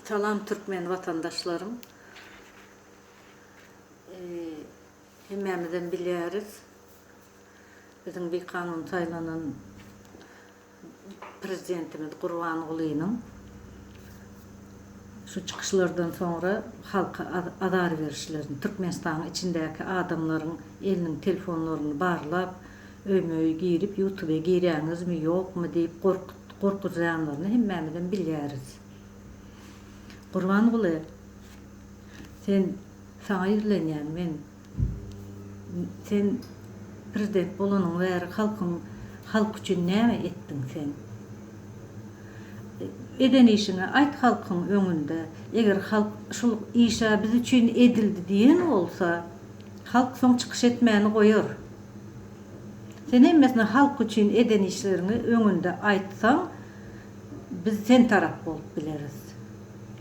Salam Türkmen watandaşlarym. Hemmämizem bilýäris, biziň bikanun saýlanan Prezidentimiz Gurbangulynyň şu çykyşlardan soňra halka azar berişlerini, Türkmenistanyň içindäki adamlaryň eliniň telefonlaryny barlap, Öýme-öý girip ýutube girýäňizmi ýokmy diýip gorkuzýanlaryny hemmämizem bilýäris. Gurbanguly sen saňa ýüzlenýän men sen prezident bolanyň bäri halkyň halk üçin näme etdiň sen? Eden işiňi aýt halkyň öňünde eger halk şul işa biz üçin edildi diýen bolsa halk soň çykyş etmäni goýar. Sen hemmesini halk üçin eden işleriňi öňünde aýtsaň biz sen tarap bolup bileris.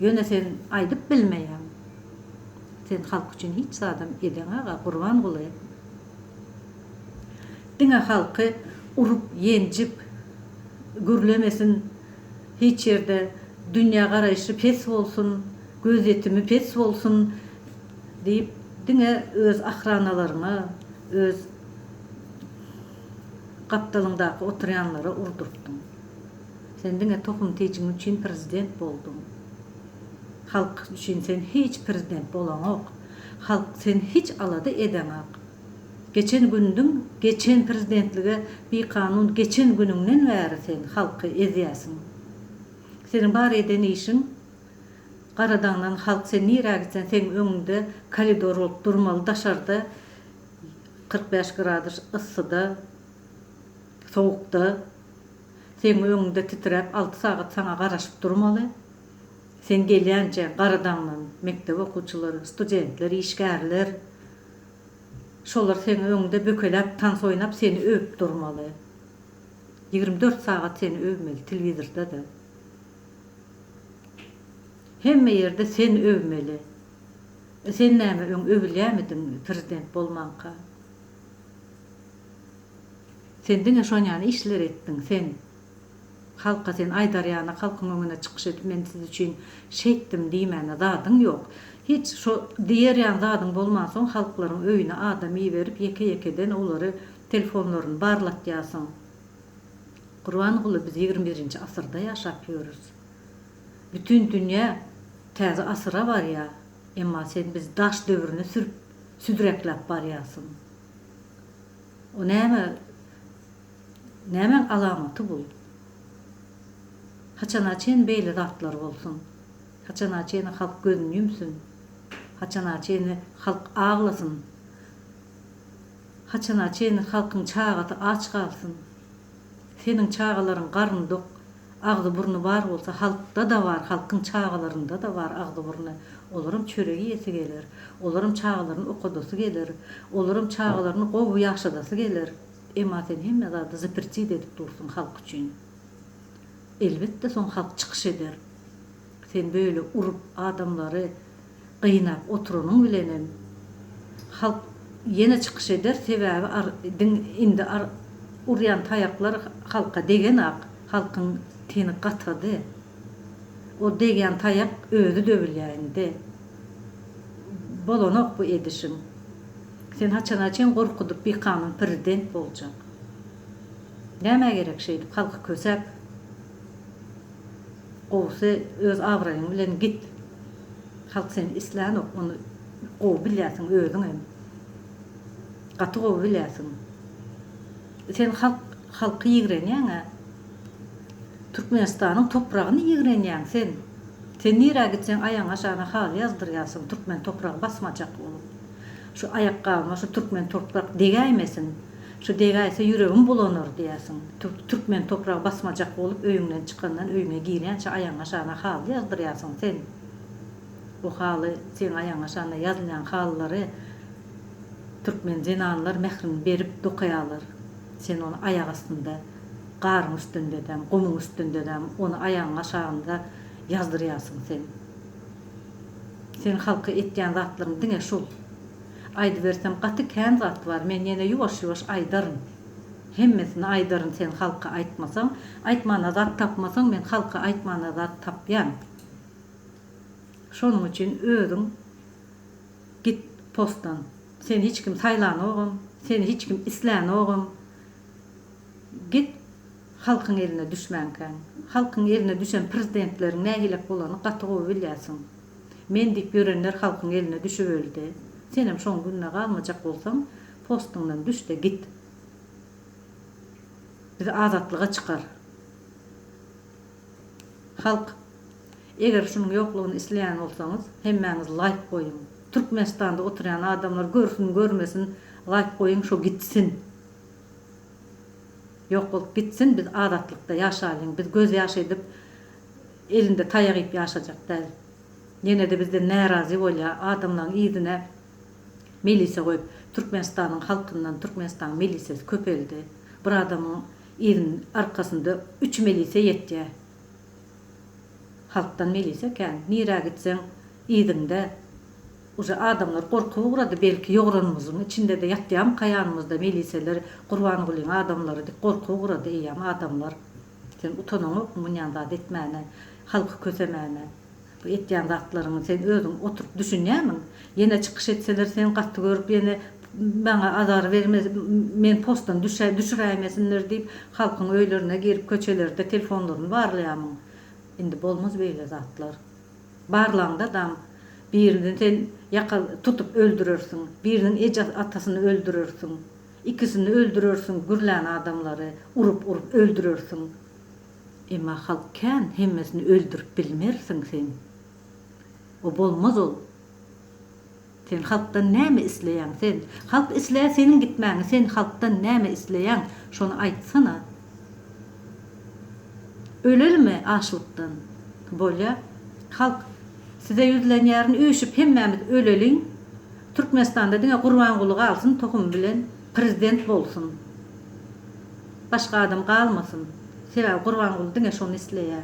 Ýöne sen aýdyp bilmeýäň. Sen halk üçin hiç zadam edeň aga Gurbanguly. Diňe halky urup ýenjip gürlemesin hiç ýerde dünýä garaýşy pes bolsun, gözýetimi pes bolsun. Diýip, diňe öz ahranalaryňa, öz gapdalyňdaky oturýanlara urdurtdyň. Sen diňe tohum tijiň üçin prezident bolduň. Halk üçin sen hiç prezident bolaňok. Halk sen hiç alada edeňak. Geçen gündiň geçen prezidentlige bikanun geçen günüňden bäri sen halky ezýäsiň. Seniň bar eden işiň Garadaňdan halk sen nirä gitsen seň öňüňde koridor bolup durmaly daşarda kyrk bäş gradus yssyda sowukda seň öňüňde titräp alty sagat saňa garaşyp durmaly sen gelýänçä Garadaňdan mekdep okuwçylary studentler işgärler şolar seň öňüňde bökeläp tans oýnap seni öwüp durmaly ýigrimi dört sagat seni öwmeli telewizorda da. Hemme ýerde sen öwmeli. E sen näme öň öwülýämidiň prezident bolmanka? Sen diňe şonýany işleri etdiň sen. Halka sen aýdar ýany halkyň öňüne çykyş edip men siz üçin şeýtdim diýmäne zadyň ýok. Hiç şo diýer ýan zadyň bolmansoň halklaryň öýüne adam iberip ýeke ýekeden olary telefonlaryny barlatýasyň. Gurbanguly biz ýigrimi birinji asyrda ýaşap ýörüs. Bütin dünýä täze asyra barýa, emma sen bizi daş döwrüne sürüp südrekläp barýasyň. O näme nämäň alamaty bul? Haçana çen beýle zatlar bolsun? Haçana çeni halk gözüni ýumsun? Haçana çeni halk aglasyn? Haçana çenli halkyň çagasy aç galsyn? Seniň çagalaryň garny dok, agzy burny bar bolsa halkda-da bar, halkyň çagalarynda-da bar agzy burny. Olaram çörek iýesi geler. Olaram çagalaryny okadasy geler. Olaram çagalaryny gowy ýaşadasy geler. Emma sen hemme zady zapretid edip dursuň halk üçin. Elbetde soň halk çykyş eder. Sen böyle urup adamlary gynap oturanyň bilenem halk ýene çykyş eder sebäbi diň indi urýan taýaklar halka degenak halkyň teni gatady o degýän taýak özi döwülýä indi bolanok bu edişiň sen haçana çen gorkudyp bikanun prezident boljak nämä gerek şeýdip halky kösäp. Gowusy öz abraýyň bilen git. Halk seni islänok ony gowy bilýärsiň özüň hem. Gaty gowy bilýärsiň. Sen halk halky ýigrenýäňä. Türkmenistanyň topragyny ýigrenýäň sen. Sen nirä gitseň aýagyňa şana haly ýazdyrýarsyň türkmen topragy basmajak bolup. Şu aýakgabyma şu türkmen toprak degäýmesin. Şu degäýse ýüregim bulanar diýersiň. Türk türkmen topragy basmajak bolup öýüňden çykandan öýüňe girýänçä aýaňa şana haly ýazdyrýarsyň sen. Bu haly seň aýaňa şana ýazylýan halylary türkmen zenanlar mährini berip dokaýarlar. Sen ony aýak astynda garyň üstündedäm, gumuň üstündedäm ony aýagyň aşagynda ýazdyrýarsyň sen. Seň halka etýän zatlaryň diňe şul. Aýdybersem gaty kän zat bar men ýene ýuwaş ýuwaş aýdaryn. Hemmesini aýdaryn sen halka aýtmasaň. Aýtmana zat tapmasaň men halka aýtmana zat tapýan. Şonuň üçin özüň git postdan. Seni hiç kim saýlanogam, seni hiç kim islänogam. Git halkyň eline düşmänkäň. Halkyň eline düşen prezidentleriň nähilek bolany gaty gowy bilýärsiň. Men diýip ýörenler halkyň eline düşüp öldi. Senem şoň gününe galmajak bolsaň, postuňdan düş-de git. Bizi azatlyga çykar. Halk, eger şunuň ýoklugyny isleýän bolsaňyz, hemmäňiz laýk goýuň. Türkmenistanda oturýan adamlar görsün, görmesin, laýk goýuň, şo gitsin. Ýok bolup gitsin, biz azatlykda ýaşalyň. Biz gözýaşy edip Elinde taýak iýip ýaşajak däl. Ýene-de bizden närazy bolýa, adamlaň yzyna milisiýa goýup, Türkmenistanyň halkyndan Türkmenistanyň milisiýasy köpeldi. Bir adamyň yzyn arkasynda üç milisiýa ýetýä. Halkdan milisiýa kän. Nirä gitseň yzyňda. Uje adamlar gorkup ugrady, belki ýogranymyzyň içinde-de ýatýamyka ýanymyzda milisiýalar, Gurbangulyň adamlary diýip gorkup ugrady eýýäm adamlar. Sen utanaňokmy munýan zat etmäne, halky kösemäne? Bu etýän zatlaryňy sen özüň oturyp düşünýämiň? Ýene çykyş etseler seni gaty görüp ýene maňa azar berme meni postdan düşä düşüräýmesinler diýip halkyň öýlerine girip köçelerde telefonlaryny barlaýamyň? Indi bolmaz beýle zatlar. Barlaňda dam birini sen ýaka tutup öldürersiň, biriniň eje atasyny öldürersiň. Ikisini öldürersiň gürlän adamlary urup urup öldürersiň emma halk kän hemmesini öldürip bilmersiň sen o bolmaz ol sen halkdan näme isleýäň sen halk isleýä seniň gitmäňi sen halkdan näme isleýäň şony aýtsana ölelimi açlykdan bolýa halk size ýüzlenýärin üýşüp hemmämiz öleliň Türkmenistanda diňe Gurbanguly galsyn tohumy bilen prezident bolsun başga adam galmasyn sebäbi Gurbanguly diňe şony isleýä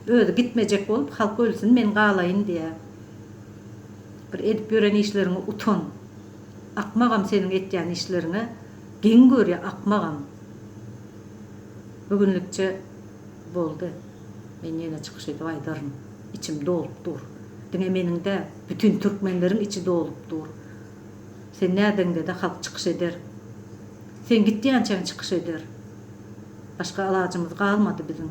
özi gitmejek bolup halk ölsün men galaýyn diýä bir edip ýören işleriňe utan akmagam seniň etýän işleriňe geň görýä akmagam bu günlikçe boldy. Men ýene çykyş edip aýdaryn, içim dolup dur. Diňe meniň däl, bütin türkmenleriň içi dolup dur. Sen nädegiňde-de halk çykyş eder. Sen gitýänçäň çykyş eder. Başga alajymyz galmady biziň.